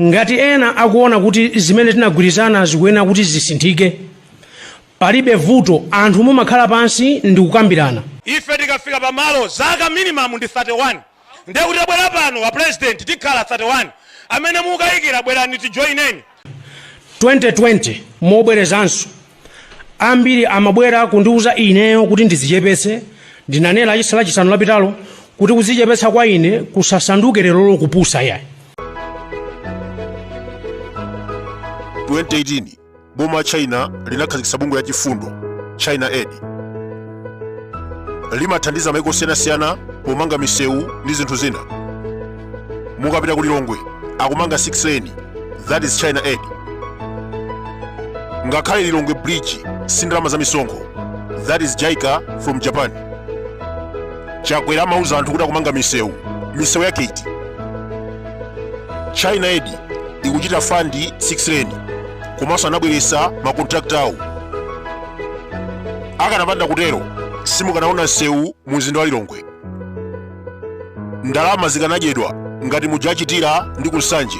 Ngati ena akuona kuti zimene tinagwirizana zikuyenera kuti zisinthike, palibe vuto, anthu mumakhala pansi ndikukambirana. Ife tikafika pamalo zaka minimum ndi 31 ndiye kuti tabwera pano a president tikhala 31. Amene mukukayikira bwerani tijoineni. 2020 mobwerezanso. ambiri amabwera kundiuza ineyo kuti ndizichepetse ndinanena lachisa lachisanu lapitalo kuti kuzichepetsa kwa ine kusasanduke lerolo kupusa yayi 2018 boma la china linakhazikitsa bungwe la chifundo china aid limathandiza maiko osiyanasiyana pomanga misewu ndi zinthu zina mukapita ku lilongwe akumanga 6 lane that is china aid ngakhale lilongwe bridge si ndalama za misonkho that is jica from japan chakwera amauza anthu kuti akumanga misewu misewu yake iti china aid ikuchita fandi 6 lane komanso anabweretsa makontrakita awo akanapanda kutero simukanaona msewu mu mzinda wa lilongwe ndalama zikanadyedwa ngati muja achitira ndi kunsanje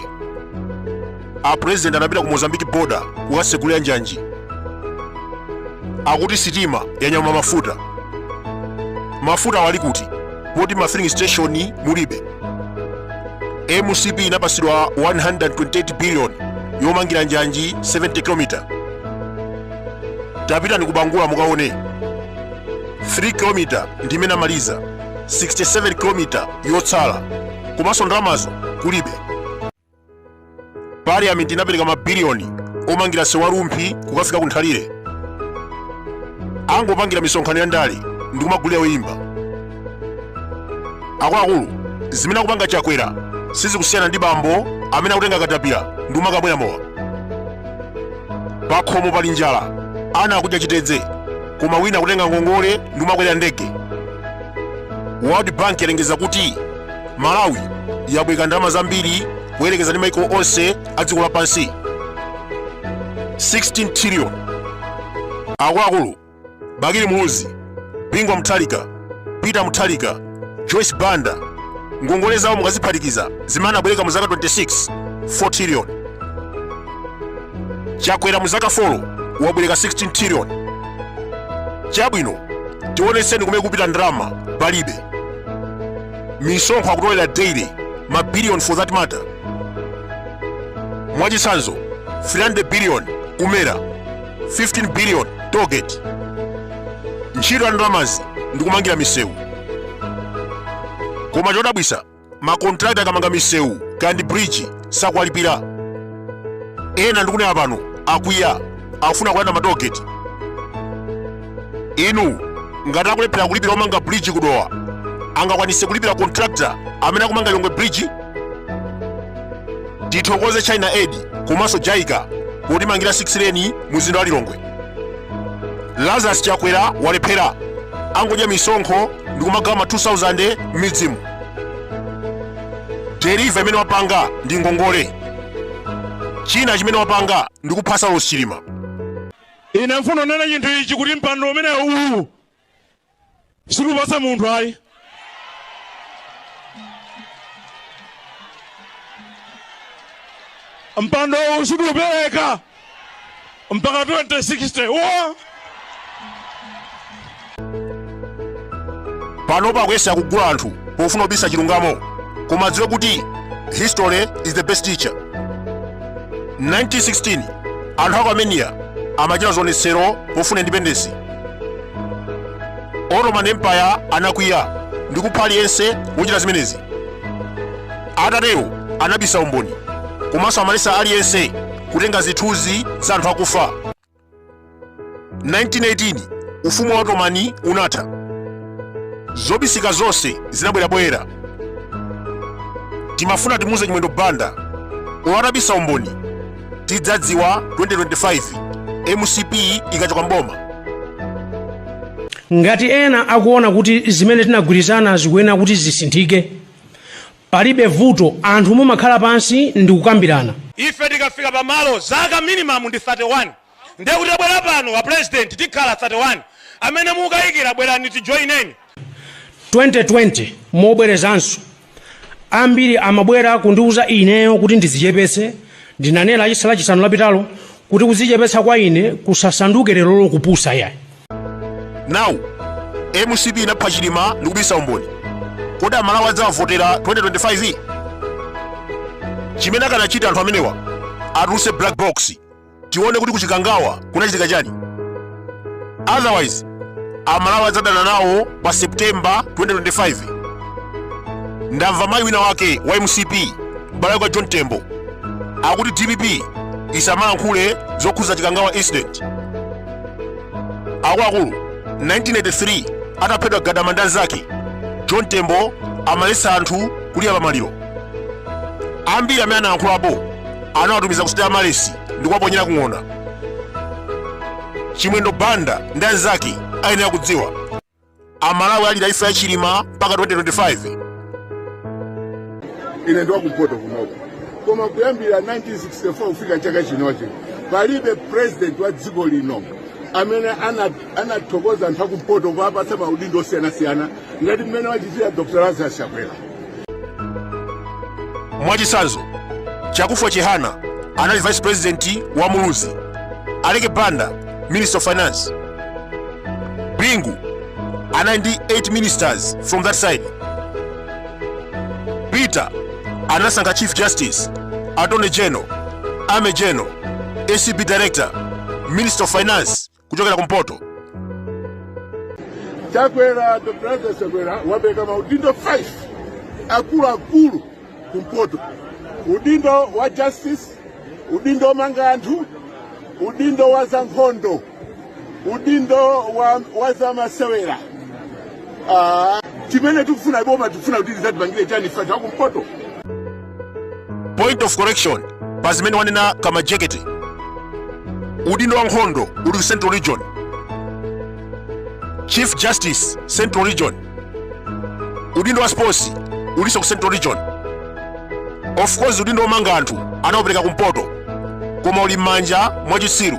a president anapita ku mozambiki boda kukasegulira njanji akuti sitima yanyamula mafuta mafutawo ali kuti poti ma filling station mulibe mcp inapasidwa 128 billion yomangira njanji 70 km tapitani kubangula mukaone 3 km ndi imene amaliza 67 kilomita yotsala komanso ndalamazo kulibe parliament inapereka mabiliyoni omangira msewu wa rumphi kukafika ku nthalire angopangira misonkhano ya ndale ndi kumagulira oyimba akuluakulu zimene akupanga chakwera sizikusiyana ndi bambo amene akutenga katapira ndi kumakamwera mowa pakhomo pali njala ana akudya chitedze koma wina kutenga ngongole ndi kumakwera ndege world bank yalengeza kuti malawi yabwereka ndalama zambiri poyerekeza ndi maiko onse a dziko lapansi 16 trillion akuluakulu bakili muluzi bingu wa muthalika peter muthalika joyce banda ngongole zawo mukaziphatikiza zimene anabwereka mu zaka 26 4 trillion chakwera mu zaka 4 wabwereka 16 trillion chabwino tionetseni kumene kwapita ndalama palibe misonkho akutolera daily mabiliyoni for that matter mwachitsanzo 300 billion kumera 15 billion tollgate ntchito ya ndalamazi ndikumangira misewu koma chodabwitsa makontrakta akamanga misewu kandi bridge sakuwalipira ena ndikunena pano akwiya akufuna kulanda ma tollgate inu ngati akulephera kulipira omanga bridge ku Dowa angakwanitse kulipira contractor amene akumanga lilongwe bridge tithokoze china aid komanso JICA potimangira 6 lane mu mzinda wa lilongwe lazarus chakwera walephera angodya misonkho ndi kumagawa ma 2000 m'midzimu deliver imene wapanga ndi ngongole china chimene wapanga ndi kupha Saulos Chilima ine ndifuna unene chinthu ichi kuti mpando umene uwu sikupasa munthu ayi mpando uwu sikuupereka mpaka 2060 wa pano akuyesa kugula anthu pofuna kubisa chilungamo koma adziwe kuti history is the best teacher 1916 anthu aku armenia amachita zionetsero pofuna independence ottoman empire anakwiya ndi kupha aliyense wochita zimenezi atatero anabisa umboni komanso amaletsa aliyense kutenga zithunzi za anthu akufa 1918 ufumu wa Ottoman unatha zobisika zonse zinabwera poyera timafuna timuze chimwendo banda olo atabisa umboni tidzadziwa 2025 mcp ikachoka m'boma ngati ena akuona kuti zimene tinagwirizana zikuyenera kuti zisinthike Palibe vuto anthu mumakhala pansi ndikukambirana. Ife tikafika pa malo zaka minimum ndi 31 ndiye kuti abwera pano a president tikhala 31 amene mukukayikira bwerani tijoineni. 2020 mobwerezanso ambiri amabwera kundiuza ineyo kuti ndidzichepetse ndinanena lachisanu lapitalo Kuti kudzichepetsa kwa ine kusasanduke lerolo kupusa yayi. Now mcp inapha chilima ndikubisa umboni kodi amalawi adzawavotera 2025 chimene akanachita anthu amenewa atulutse black box tione kuti ku Chikangawa kunachitika chani otherwise amalawi adzadana nawo pa september 2025 ndamva mayi wina wake wa mcp m'bale wa john tembo akuti dpp isamalankhule zokhudza chikangawa incident akuluakulu 1983 ataphedwa gadama ndi anzake john tembo amaletsa anthu kulira pamaliro ambiri amene analankhulapo anawatumiza ku Sitayamalesi ndi kuwaponyera ku ng'ona. Chimwendo Banda ndi anzake ayenera kudziwa. Amalawi alira imfa ya Chilima mpaka 2025. ine ndiwakumpoto kunoko koma kuyambira 1964 kufika chaka chinochi palibe president wa dziko lino amene ana- anathokoza anthu akumpoto kuwapatsa maudindo osiyanasiyana ngati mmene wachitira dr lazarus chakwera mwachitsanzo chakufwa chihana anali vice president wa muluzi aleke banda minister of finance bingu anali ndi 8 ministers from that side peter anasankha chief justice attorney general army general acb director minister of finance kuchokera kumpoto chakwera dr lazarus chakwera wapereka maudindo 5 akuluakulu kumpoto udindo wa justice udindo womanga anthu udindo wa zankhondo udindo wa, wa zamasewera Ah, chimene tikufuna boma tikufuna kuti lidzatipangire chani ife anthu akumpoto point of correction pa zimene wanena kamajekete udindo wa nkhondo uli ku central region chief justice central region udindo wa sports ulinso ku central region of course udindo womanga anthu anaupereka kumpoto koma uli m'manja mwa chitsiru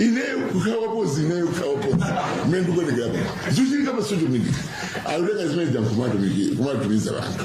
ineyo kukhala wapozi ineyo kukhala wapozi mmene ndikuonekera pano zichitika pa social media ayoteka zimene zankhumatumiki kumatumiza vanthu